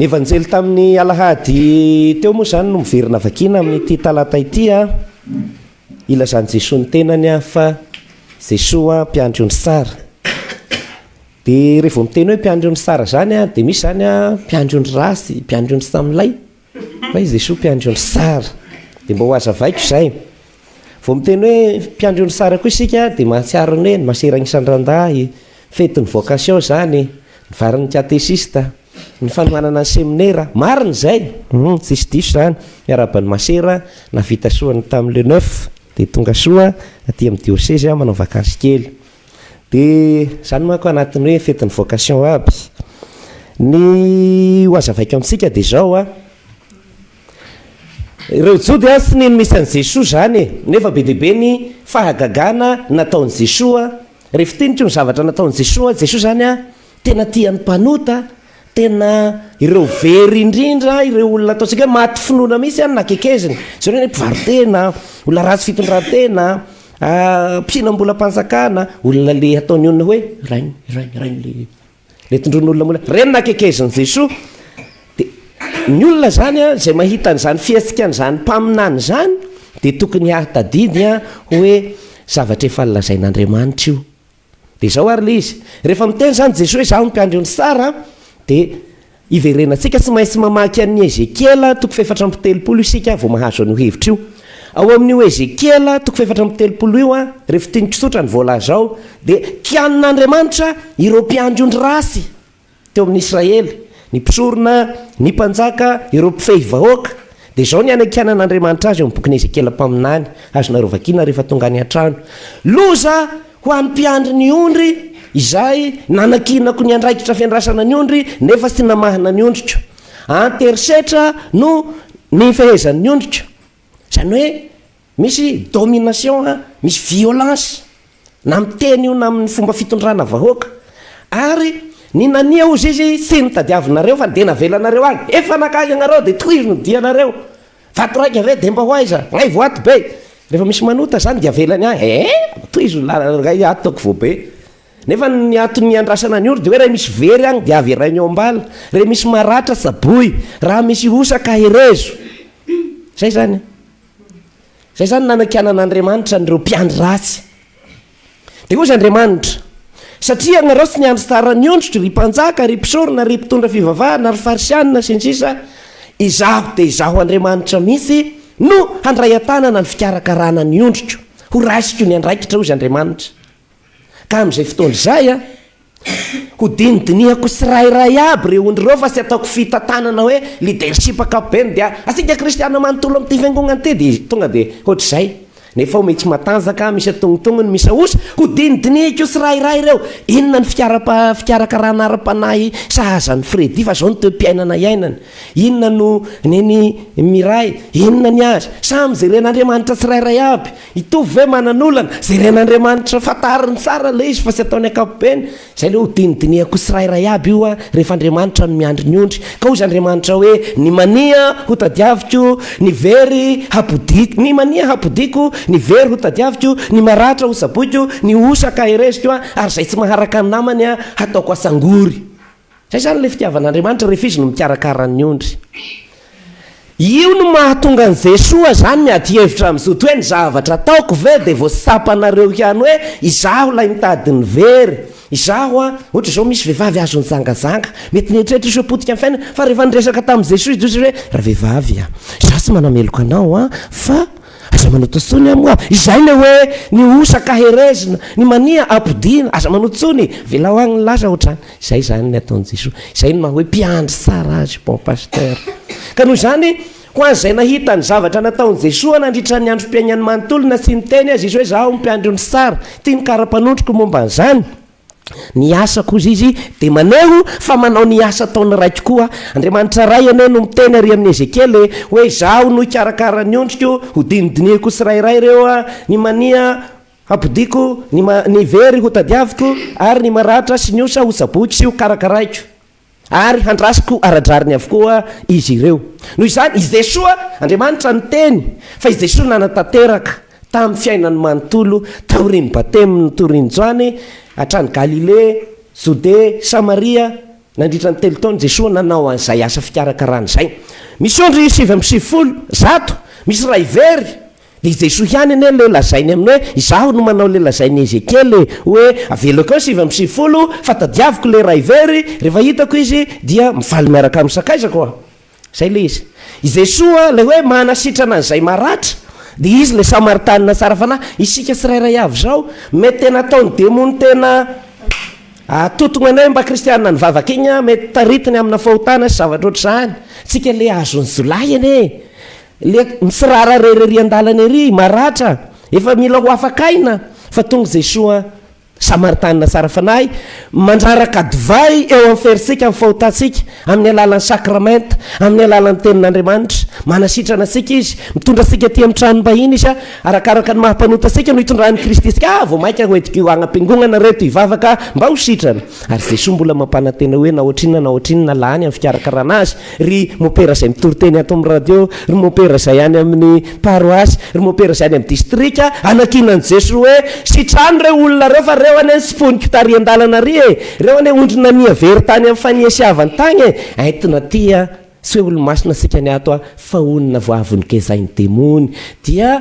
Ny Evanjely tamin'ny alahady teo moa izany no miverina vakiana amin'ity talata ity. Ilazan'i Jesoa ny tenany fa Jesoa mpiandry ony sara. Dia rehefa miteny hoe mpiandry ony sara izany dia misy izany mpiandry ony ratsy, mpiandry ony samilay. Fa izy Jesoa mpiandry ony sara dia mba ho azavaiko izay. Vao miteny hoe mpiandry ony sara koa isika dia mahatsiaro ny hoe ny masera agnisan'ny randahy, fetin'ny vocation izany, ny varin'ny katesista, ny fanohanana ny seminera. Marina izay, tsisy diso izany. Miarahaba ny masera nahavita soa ny tamin'ny le neuf dia tonga soa aty amin'ny diosezy manao vakansy kely. Dia izany manko anatin'ny hoe fetin'ny vocation aby. Ny ho azavaiko amintsika dia izao an, ireo Jody an tsy nino misy an'i Jesoa izany e, nefa be dia be ny fahagagana nataon'i Jesoa, rehefa tiniko ny zavatra nataon'i Jesoa, Jesoa izany an, Tena tian'ny mpanota, tena ireo very indrindra, ireo olona ataontsika hoe maty finoana mihitsy an, nakekezina. Izao indray ny mpivaro-tena, olona ratsy fitondran-tena, mpihinam-bolam-panjakana, olona le ataon'ny olona hoe rainy, rainy, rainy le le tondroin'olona mora. Ireny nakekezin'i Jesoa. Dia ny olona izany an, izay mahita an'izany fihetsik'an'izany mpaminany izany dia tokony hahatadidy an hoe zavatra efa lazain'Andriamanitra io. Dia izao ary ilay izy, rehefa miteny izany Jesoa hoe izaho no mpiandry an'i Sara dia hiverenantsika, tsy maintsy mamaky an'i Ezekiela toko fahefatra amby telopolo isika vao mahazo an'io hevitra io. Ao amin'io Ezekiela toko fahefatra amby telopolo io, refitiniko tsotra ny voalazao, dia kianin'Andriamanitra ireo mpiandry ondry ratsy. teo amin'ny Israely, ny mpisorona, ny mpanjaka, ireo mpifehy vahoaka, dia izao ny hanakianan'Andriamanitra azy eo amin'ny bokin'i Ezekiela mpaminany, azonareo vakiana rehefa tonga any an-trano, Loza ho an'ny mpiandry ny ondry izay nanakianako ny andraikitra fiandrasana ny ondry nefa tsy namahana ny ondriko. An-terisetra no nifehezan'ny ondriko. Izany hoe, Misy domination a, misy violence na amin'ny teny io na amin'ny fomba fitondrana vahoaka ary ny nania ozy izy thiny tadiavinareo fa dia navelanareo any, efa nankany ianareo dia tohizo ny dianareo, vato raika ve dia mba ho aiza, ngay vao ato be, rehefa misy manota zany dia avelany any, eeh tohizo ny lalana ngay ato toako vao be, nefa ny antony iandrasana ny ondry dia hoe raha misy very any dia avy harainy ao am-bala, re misy maratra tsaboy, raha misy osa kaherezo, zay zany. Izay izany nanakianan'Andriamanitra an'ireo mpiandry ratsy. Dia hoy izy Andriamanitra, Satria ianareo tsy niandry tsara ny ondriko, ry mpanjaka, ry mpisorona, ry mpitondra fivavahana, ry Farisianina, sy ny sisa Izaho, dia Izaho Andriamanitra mihitsy no handray an-tanana ny fikarakarana ny ondriko. Horaisiko ny andraikitra, hoy izy Andriamanitra. Ka amin'izay fotoana izay, Hodinidinihako tsirairay aby ireo ondry ireo fa tsy ataoko fitantanana hoe leadership ankapobeny dia antsika kristiana manontolo amin'ity fiangonana ity dia tonga dia hoatr'izay. Nefa ao mitsy matanjaka, misy antognontognony, misy ahosa. Hodinidinihiko tsirairay ireo. Inona ny fikarakarana ara-panahy sahaza an'i Freddy fa izao ny toe-piainana iainany. Inona no nen'i Miray. Inona ny azy. Samy jeren'Andriamanitra tsirairay aby. Hitovy ve manan'olana? Jeren'Andriamanitra fantariny tsara ilay izy fa tsy ataony ankapobeny. Izay ilay hodinidinihako tsirairay aby io an, rehefa Andriamanitra no miandry ny ondry. Ka hoy Andriamanitra hoe, Ny mania hotadiaviko, ny very hapodiko, ny mania hapodiko, ny very hotadiaviko, ny maratra hotsaboiko, ny hosa ka heresiko, ary izay tsy maharaka ny namany hataoko atsangory. Zay zany ilay fitiavan'Andriamanitra rehefa izy no mikarakara ny ondry. Io no mahatonga an'i Jesoa zany ny ady hevitra amin'ny Zoto hoe ny zavatra ataoko ve dia vao tsapanareo ihany hoe izaho ilay mitady ny very, izaho an, ohatra izao misy vehivavy azo nijangajanga, mety nieritreritra izy hoe potika ny fiainany, fa rehefa niresaka tamin'i Jesoa izy hoe ravehivavy an, izaho tsy manameloka anao an, fa Aza manoto tsony a moa izay le hoe ny osa ka herezina, ny mania apodiana, aza manoto tsony e, avelao agny ny lasa otrany, izay zany ny ataon'i Jesoa, izay ny maha hoe mpiandry tsara azy bon pasteur. Ka noho izany ho an'izay nahita ny zavatra nataon'i Jesoa nandritra ny androm-piaignany manontolo na tsy niteny aza izy hoe zaho mpiandry ondry tsara, ity ny kara-panondroko momba an'izany, Ny asa kosa izy dia maneho fa manao ny asa ataon'ny Raiko koa. Andriamanitra Ray anie no miteny ary amin'i Ezekiela e, hoe Izaho no hikarakara ny ondriko, hodinidinihiko tsirairay ireo, ny mania hampodiako, ny very hotadiaviko, ary ny maratra sy ny osa hotsaboiko sy hokarakaraiko. Ary handrasiko ara-drariny avokoa izy ireo. Noho izany, i Jesoa, Andriamanitra niteny, fa i Jesoa nanatanteraka tamin'ny fiainany manontolo taorian'ny Batemin'i Notoriny Joany, hatrany Galilea, Jodea, Samaria, nandritra ny telo taona Jesoa nanao an'izay asa fikarakarana izay. Misy ondry sivy amby sivifolo, zato, misy iray very. Dia i Jesoa ihany anie ilay lazainy amin'ny hoe, Izaho no manao ilay lazain'i Ezekiely hoe, Avelako eo sivy amby sivifolo, fa tadiaviko ilay iray very, rehefa hitako izy, dia mivaly miaraka amin'ny sakaizako aho. Izay ilay izy. I Jesoa, ilay hoe manasitrana an'izay maratra, dia Izy ilay Samaritanina tsara fanahy. Isika tsirairay avy izao, mety tena ataon'ny demony tena atotogna anay mba kristiana nivavaka igny, mety taritiny amina fahotana sy zavatra ohatr'izany. Tsika ilay azon'ny jiolahy anie e! Le mitsirara irery ery andalana ery, maratra, efa mila ho afaka aina fa tonga izay soa an! Samaritanina tsara fanahy, mandraraka divay eo amin'ny ferisika ny fahotantsika amin'ny alalan'ny sakramenta, amin'ny alalan'ny Tenin'Andriamanitra. Manasitrana antsika Izy, mitondra antsika aty amin'ny tranom-bahiny Izy, arakaraka ny maha-mpanota antsika no hitondran'i Kristy antsika. Ah, vao mainka hoentiko io agnam-piangonana ireto hivavaka mba ho sitrana. Ary Jesoa mbola mampanantena hoe na ohatrinona na ohatrinona lany amin'ny fikarakarana azy. ry mopera izay mitory teny ato amin'ny radio, ry mopera izay any amin'ny paroasy, ry mopera izay any amin'ny distrika, anankinan'i Jesoa hoe, Sitrano ireo olona ireo fa ireo anie ny simponiko tary an-dalana ary e! Ireo anie ondry nania very tany amin'ny fanihasiavany tany e! Entina aty a! Tsy hoe olo-masina isika ny ato a! Fa onona voavongezain'ny demony, dia.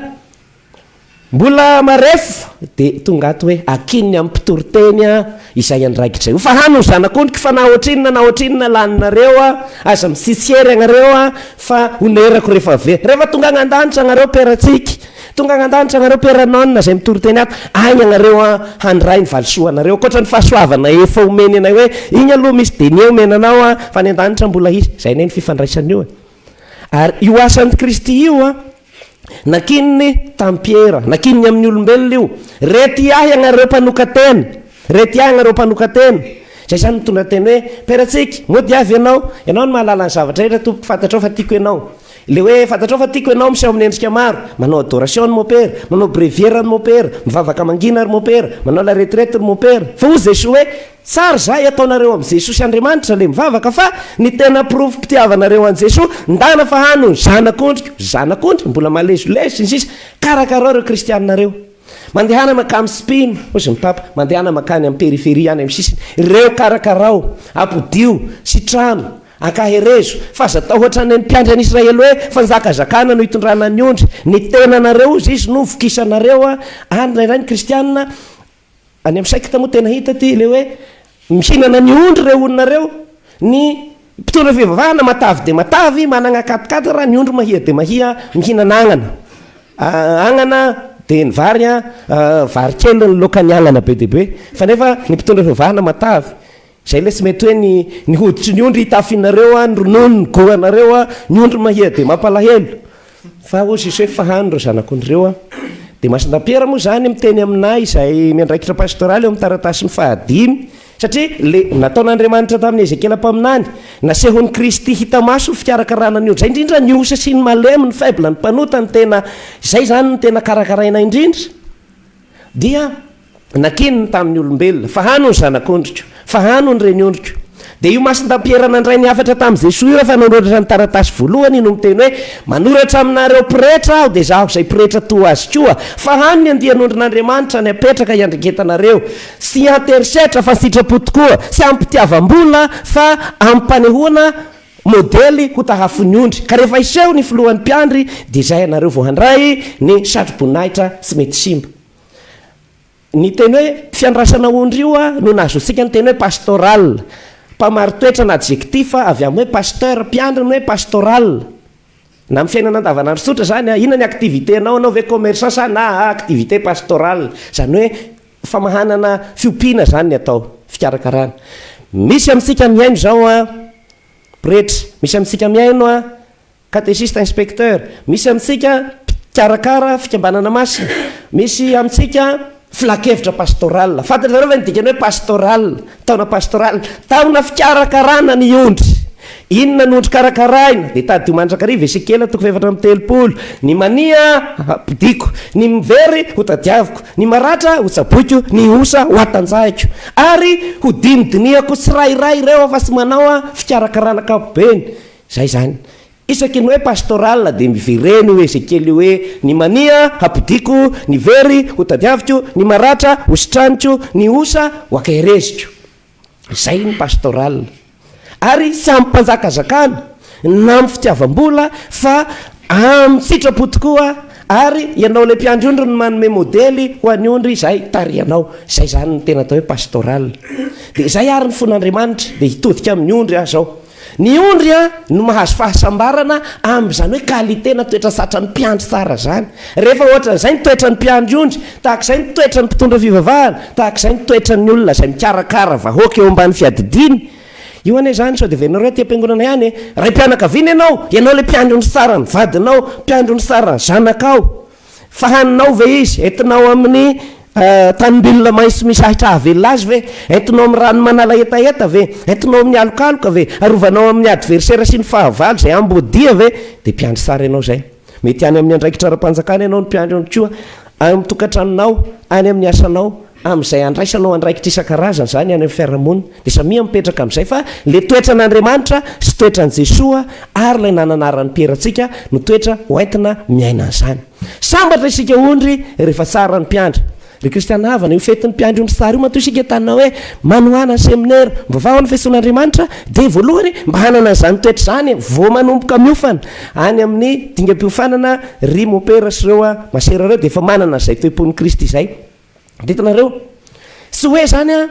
Mbola marefo dia tonga ato hoe akin'ny amin'ny mpitory teny aho izay andraikitra io fa hany ho zanak'ondriko fa na ohatrinona na ohatrinona laninareo aho aza misisiery anareo aho fa honerako rehefa avy eo rehefa tonga any an-danitra anareo peratsika tonga any an-danitra anareo peran'aona izay mitory teny ato any anareo aho handray ny valisoanareo ankoatra ny fahasoavana efa omeny anay hoe iny aloha misy denier omena anao aho fa any an-danitra mbola hisy izay anie ny fifandraisana io e ary io asan'i Kristy io an Nankininy tamin'i Piera, nankininy amin'ny olombelona io, Rety ahy ianareo mpanoka-tena, rety ahy ianareo mpanoka-tena. Izay izany mitondra teny hoe, Peratsika, moa dia avy ianao? Ianao no mahalala ny zavatra rehetra, Tompoko, fantatrao fa tiako ianao. Ilay hoe fantatrao fa tiako ianao miseho amin'ny endrika maro, manao adoration ny mopera, manao bréviaire ny mopera, mivavaka mangina ry mopera, manao laretirety ry mopera. Fa hoy Jesoa hoe, Tsara izay ataonareo am Jesosy Andriamanitra le mivavaka fa ny tena porofo pitiavanareo an Jeso ndana fa hany ho zanak ondriko, zanak ondry mbola malezolezo sy ny sisa karakarao reo kristianina reo mandehana makam spino ozy ny papa mandehana makany am periferie any am sisiny reo karakarao apodio sy trano ankaherezo faza atao hoatrany ny mpiandry an Israely hoe fanjakazakana no itondrana ny ondry ny tenanareo ozy izy no vokisanareo an indray indray ny kristianina Any amin'ny secte moa tena hita ity ilay hoe mihinana ny ondry ireo olona ireo, ny mpitondra fivavahana matavy dia matavy, manana katikatira, ny ondry mahia dia mahia mihinana agnana. Agnana dia ny vary, vary kely ny laoka ny agnana be dia be. Fa nefa ny mpitondra fivavahana matavy. Zay lesy mety hoe ny ny hoditry ny ondry hitafinareo a ny ronono ny goanareo a ny ondry mahia dia mampalahelo fa hoy Jesoa hoe fahano ireo zanakondry ireo a dia Masina Piera moa zany miteny aminay izay miandraikitra pastoraly eo amin'ny taratasiny fahadimy satria le nataon'Andriamanitra tamin'i Ezekiela mpaminany nasehon'i Kristy hita maso ny fikarakarana ny ondry zay indrindra ny osa sy ny malemy ny faible ny mpanota ny tena zay zany ny tena karakaraina indrindra dia Nankininy tamin'ny olombelona, fa hano ny zanak'ondriko, fa hano ny reniondriko. Dia io masin-dampiera nandray ny hafatra tamin'i Jesoa io efa nanoratra ny taratasy voalohany no miteny hoe, Manoratra aminareo pretra aho, dia izaho izay pretra toa azy koa, fa hano ny andian'ondrin'Andriamanitra ny hapetraka hiandrengetanareo, tsy hianterisetra fa an-tsitrapo tokoa, tsy amim-pitiavam-bola fa amim-panehoana modely ho tahafon'ny ondry, ka rehefa hiseho ny filohan'ny mpiandry, dia izay ianareo vao handray ny satroboninahitra tsy mety simba. Ny teny hoe fiandrasana ondry io no nahazoantsika ny teny hoe pastoral, mpamaritoetra na adjectif avy amin'ny hoe pasteur, mpiandry ny hoe pastoral. Na amin'ny fiainana andavanandro tsotra izany, inona ny activité-nao, anao ve commerçant sa na activité pastorale, izany hoe famahanana fiompiana izany ny atao, fikarakarana. Misy amintsika mihaino izao pretra, misy amintsika mihaino. Katesista Inspecteur, Misy amintsika mpikarakara fikambanana masina, misy amintsika filankevitra pastoral. Fantatrareo ve ny dikany hoe pastoral, taona pastoral? Taona fikarakarana ny ondry. Inona ny ondry karakaraina? Dia tadio mandrakariva Esekiela toko fahefatra amby telopolo, Ny mania hapodiako, ny very hotadiaviko, ny maratra hotsaboiko, ny osa hoatanjahiko. Ary hodinidinihako tsirairay ireo afa-tsy manao fikarakarana ankapobeny. Zay zany. Isaky ny hoe pastoral dia mivereno io Ezekiel io hoe, ny mania hampodiako, ny very hotadiaviko, ny maratra hositraniko, ny osa hoakahereziko. Zay ny pastoral. Ary tsy amin'ny mpanjakazakana, na amin'ny fitiavam-bola, fa amin'ny sitrapo tokoa, ary ianao ilay mpiandry ondry no manome modely ho an'ny ondry izay tarihanao. Zay zany ny tena atao hoe pastoral. Dia zay ary ny fon'Andriamanitra dia hitodika amin'ny ondry aza ao. Ny ondry no mahazo fahasambarana amin'izany hoe qualité na toetra satran'ny mpiandry tsara izany. Rehefa ohatran'izay ny toetran'ny mpiandry ondry, tahaka izay ny toetran'ny mpitondra fivavahana, tahaka izay ny toetran'ny olona izay mikarakara vahoaka eo ambany fiadidiany, io anie izany sao dia venareo aty am-piangonana ihany e! Raim-pianakaviana ianao, ianao ilay mpiandry ondry tsara ny vadinao, mpiandry ondry tsara ny zanakao. Fa haninao ve izy? Entinao amin'ny tanim-bilona maitso misy ahitra hahavelona azy ve? Entinao amin'ny rano manala hetaheta ve? Entinao amin'ny alokaloka ve? Arovanao amin'ny adversera sy ny fahavalo izay amboadia ve? Dia mpiandry sary ianao izay. Mety any amin'ny andraikitra ara-panjakana ianao no mpiandry ihany koa, any amin'ny tokantranonao, any amin'ny asanao, Amin'izay andraisanao andraikitra isan-karazany izany any amin'ny fiarahamonina dia samia mipetraka amin'izay fa ilay toetran'Andriamanitra sy toetran'i Jesoa ary ilay nananaran'i Piera antsika no toetra hoentina miaina an'izany. Sambatra isika ondry rehefa tsara ny mpiandry. Ry kristiana havana, io fetin'ny mpiandry ondry tsara io matoa isika entanina hoe manohana ny seminera mivavaha ao amin'ny feson'Andriamanitra dia voalohany mba hanana an'izany toetra izany vao manomboka miofana any amin'ny dingam-piofanana ry mopera sy ireo masera ireo dia efa manana izay toe-pon'i Kristy izay Ditinareo? Tsy hoe zany an,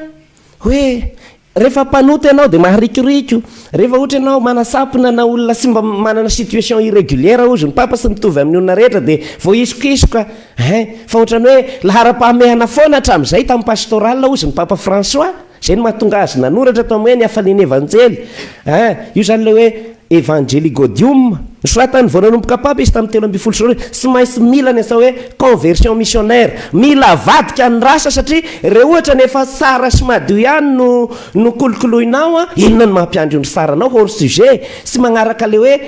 hoe rehefa mpanota ianao dia maharikoriko, rehefa ohatra ianao manasampona na olona tsy mba manana situation irrégulière hozy ny papa tsy mitovy amin'ny olona rehetra dia voaisokisoka hein, fa ohatran'ny hoe laharam-pahamehana foana hatramin'izay tamin'ny pastoral hozy ny papa François, Izay no mahatonga azy nanoratra tao amin'ny hoe ny hafalian'ny Evanjely. Aa io izany ilay hoe Evangelii Gaudium. Nosoratan'ny voananomboka Papa izy tamin'ny telo ambin'ny folo sy roa arivo. Tsy maintsy mila ny atao hoe conversion missionnaire. Mila avadika ny rasa satria re ohatra ny efa tsara sy madio ihany no no kolokoloinao an, inona no mampiandry ny saranao hors sujet. Tsy magnaraka ilay hoe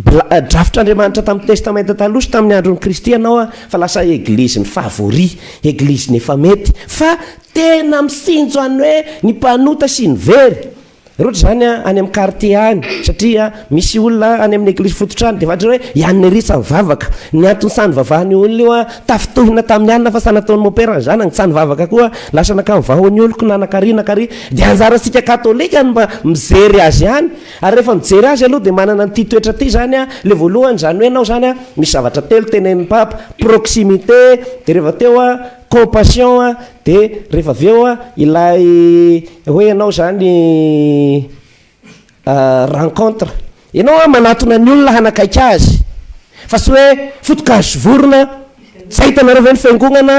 Bla, Drafitr'Andriamanitra tamin'ny Testamenta Taloha sy tamin'ny andron'i Kristy ianao fa lasa eglizin'ny favori, eglizin'ny efa mety, fa tena misinjo an'ny hoe ny mpanota sy ny very. Roatra izany any amin'ny quartier any satria misy olona any amin'ny eglizy fototra any dia fantatra hoe ianirisa mivavaka. Ny antony saha nivavahan' io olona io tafintohina tamin'ny alina fa saha nataon'i mopera ny zanany tsa nivavaka koa lasa nankany vahoan'ny oloko na nankary nankary dia anjarantsika katolika ny mba mijery azy ihany Ary rehefa mijery azy aloha dia manana an'ity toetra ity izany an, ilay voalohany, izany hoe ianao izany an, misy zavatra telo tenenin'ny Papa, proximité, dia rehefa teo an, compassion an, dia rehefa avy eo an, ilay hoe ianao izany rencontre, ianao an manatona ny olona hanakaiky azy, fa tsy hoe foto-kazo sy vorona, tsy ahitanareo ve ny fiangonana,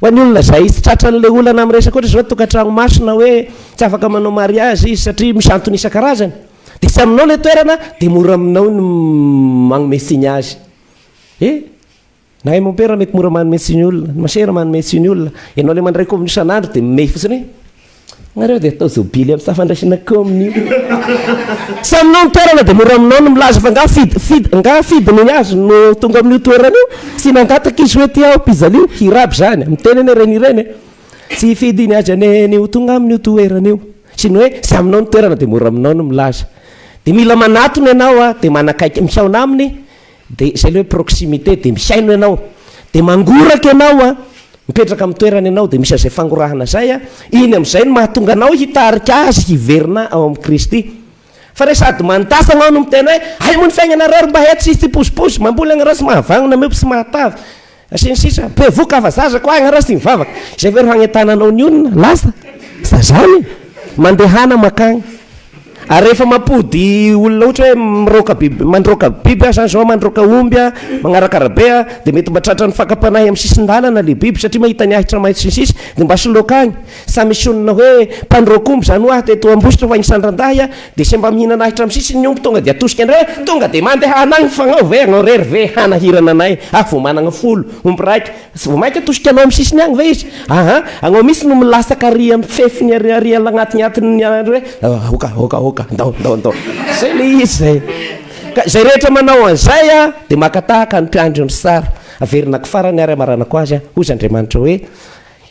Ho an'ny olona izay tsy tratran'ilay olana amin'ny resaka ohatra izao tokantrano masina hoe tsy afaka manao mariazy izy satria misy antony isan-karazany dia tsy aminao ilay toerana dia mora aminao ny manome tsiny azy. Eh? Na hay mompera mety mora manome tsiny olona, ny masera manome tsiny olona, ianao ilay mandray kaomina isan'andro dia mey fotsiny. Nareo dia atao zobily am safandraisana kaomina io. Saminao ny toerana dia mora aminao ny milaza fa nga fid fid nga fidiny ny azy no tonga amin'io toerana io sy nangataka izy hoe tia aho pizalio hirab zany miteny anie reny ireny e tsy hifidy ny azy anie ny ho tonga amin'io toerana io sy ny hoe tsy aminao ny toerana dia mora aminao ny milaza dia mila manatona ianao dia manakaiky mihaona aminy Dia izay ilay hoe proximité dia mihaino ianao dia mangoraka ianao an, mipetraka amin'ny toerana ianao dia misy an'izay fangorahana izay an, iny amin'izay no mahatonga anao hitarika azy hiverina ao amin'i Kristy. Fa re sady mandatsa anao no miteny hoe hay moa ny fiainanareo ry mba hay tsy hisy tsipozipozy, mamboly agnareo sy mahavanona miompy sy mahatavy, Sy ny sisa. Bevoka afa zaza ko agnarasy ty mivavaka. Izay ve ro hagnentana anao ny olona? Lasa. Fa zany e. Mandehana makagny. Ary rehefa mampody olona ohatra hoe miroaka biby mandroaka biby aho zany zao mandroaka omby a, magnaraka arabe a, dia mety mba tratran'ny fakam-panahy amin'ny sisin-dalana le biby satria mahita ny ahitra maitso sy ny sisa dia mba soloako agny. Sa misonona hoe mpandroaka omby izany ho'aho teto Ambositra fa isan-drandahy aho dia semba mihinana ahitra amin'ny sisiny ny omby tonga dia atosika indray hoe tonga dia mandeha anay mifanao ve anao irery ve hanahirana anay aho vao manana folo omby raika sy vao mainka atosika anao amin'ny sisiny agny ve izy aa anao mihitsy no milasak ary amin'ny fefiny ary ary agnatin'atin'ny andro hoe aoka aoka aoka ndao ndao ndao zay le izy zay ka zay rehetra manao an'izay a dia maka tahaka ny mpiandry ny sary averina ko farany ary amaranako azy a hoy z'Andriamanitra hoe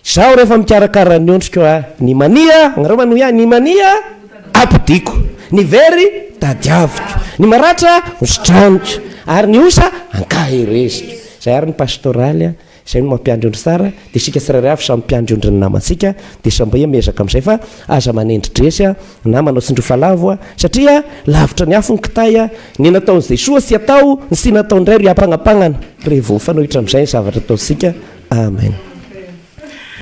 Izaho rehefa mikarakara ny ondriko a, ny mania, nareo manohy ahy, ny mania ampodiako, ny very tadiaviko, ny maratra hositraniko, ary ny osa ankahereziko. Izay ary ny pastoraly a, izay no mampiandry ondry tsara, dia isika tsirairay avy samy mpiandry ondrin'ny namantsika, dia sambia miezaka amin'izay fa aza manendri-dresy a. Na manao tsindrofa lavo a satria lavitra ny afo ny kitay a ny nataon'i Jesoa tsy atao ny tsy natao indray ry ampagnampagnana revo mifanohitra amin'izay ny zavatra ataontsika amen.